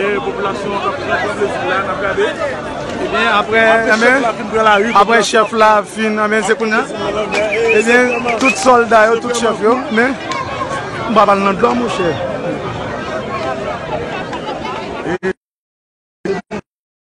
E popilasyon an kap pran plezi la nap gade. Ebyen apre apre chèf la fin anben se kounya ebyen tout sòlda yo tout chèf yo men m pa pral nan dlo monchè.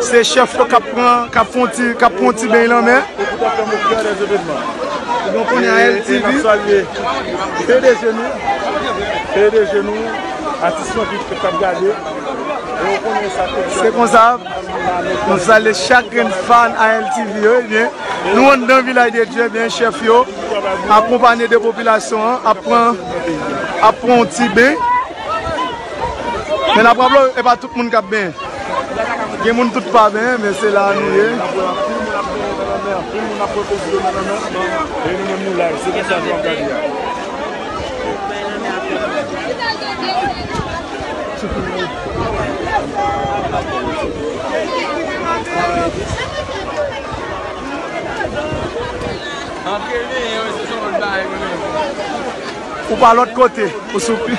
Se chèf yo kap pran, kap fon ti, kap pran yon ti beny lanmè. E pou ta fèm o kè dè zevènman. E nou konnen a LTV. E nap salye pdg nou, pdg nou, atis mwen ki kap gade. E ou konnen sa tout chèf. Se konsa, nou salye chak grenn fan a LTV yo e byen. Nou anndan vilaj de Dye e byen chèf yo akonpanye de popilasyon an ap pran, ap pran yon ti beny. Men nap raple w epa tout moun kap benyen gen moun tout pa benyen men se la nou ye Ou pa lot kote ou sou pi.